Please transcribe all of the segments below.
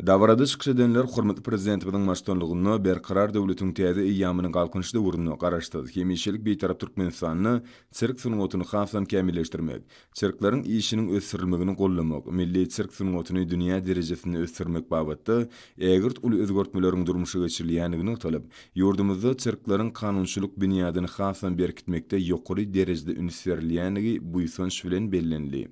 Dabarada çykyş edenler hormatly Prezidentimiziň baştutanlygynda Berkarar döwletiň täze eýýamynyň Galkynyş döwründe Garaşsyz, hemişelik Bitarap Türkmenistanda sirk sungatyny hasam kämilleşdirmek, sirkleriň işiniň ösdürilmegini goldamak, milli sirk sungatyny dünýä derejesinde ösdürmek babatda ägirt uly özgertmeleriň durmuşa geçirilýändigi nygtalyp, ýurdumyzda sirkleriň kanunçylyk binýadyny hasam berkitmekde ýokary derejede üns berilýändigi buýsanç bilen bellenildi.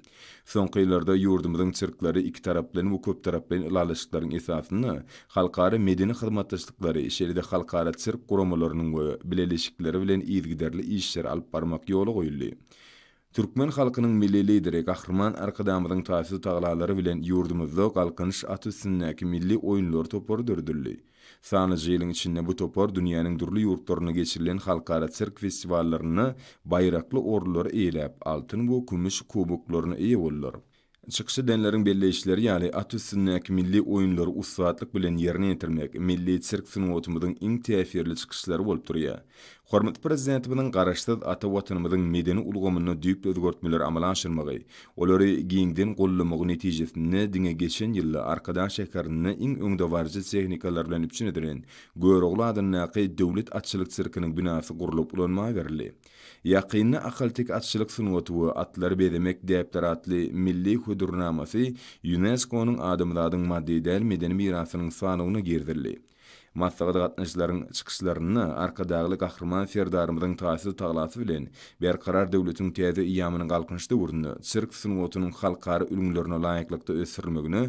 Soňky ýyllarda ýurdumyzyň çirkleri ikitaraplaýyn we köptaraplaýyn ylalaşyklaryň esasynda halkara medeni hyzmatdaşlyklary, şeýle-de halkara çirk guramalarynyň we bileleşikleri bilen yzygiderli işleri alyp barmak ýola goýuldy. Türkmen halkynyň Milli Lideri Gahryman Arkadagymyzyň taýsyz tagallalary bilen ýurdumyzda Galkynyş at üstündäki milli oýunlar topary döredildi. Sanyja ýylyň içinde bu topar dünýäniň dürli ýurtlarynda geçirilen halkara sirk festiwallarynda baýrakly orunlary eýeläp, altyn we kümüş kuboklaryna eýe boldular. Çykyş edenleriň belleýişleri ýaly, at üstündäki milli oýunlary ussatlyk bilen ýerine ýetirmek milli sirk sungatymyzyň iň täsirli çykyşlary bolup durýar. Hormatly Prezidentimiziň Garaşsyz ata Watanymyzyň medeni ulgamynda düýpli özgertmeleri amala aşyrmagy, olary giňden goldamagy netijesinde diňe geçen ýylda Arkadag şäherinde iň öňdebaryjy tehnikalar bilen üpjün edilen Görogly adyndaky Döwlet atçylyk sirkiniň binasy gurlup ulanma berildi. Ýakynda Ahalteke atçylyk sungaty we atlary bezemek däpleri atly milli hödürnamasy ÝUNESKO-nyň Adamzadyň maddy däl medeni mirasynyň sanawyna girizildi. Maslahat gatnaşyjylaryň çykyşlarynda Arkadagly Gahryman Serdarymyzyň taýsyz tagasy bilen Berkarar döwletiň täze eýýamynyň Galkynyş döwründe sirk sungatynyň halkara ülňülerine laýyklykda ösdürilmegine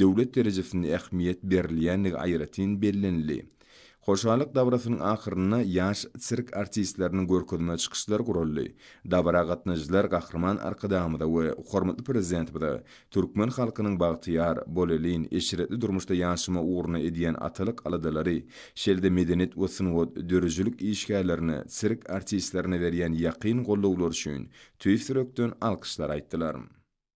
döwlet derejesinde ähmiýet berilýändigi aýratyn bellenildi. Hoşallyk dabarasynyň ahyrynda ýaş sirk artistleriniň görkezme çykyşlary guraldy. Dabara gatnaşyjylar Gahryman Arkadagymyza we hormatly Prezidentimize Türkmen halkynyň bagtyýar, bolelin, eşretli durmuşda ýaşama ugruna edýän atalyk aladalary, şeýle-de medeniýet we sungat, döredijilik işgärlerine, sirk artistlerine berýän ýakyn gollawlary üçin tüýs ýürekden alkyşlar aýtdylar.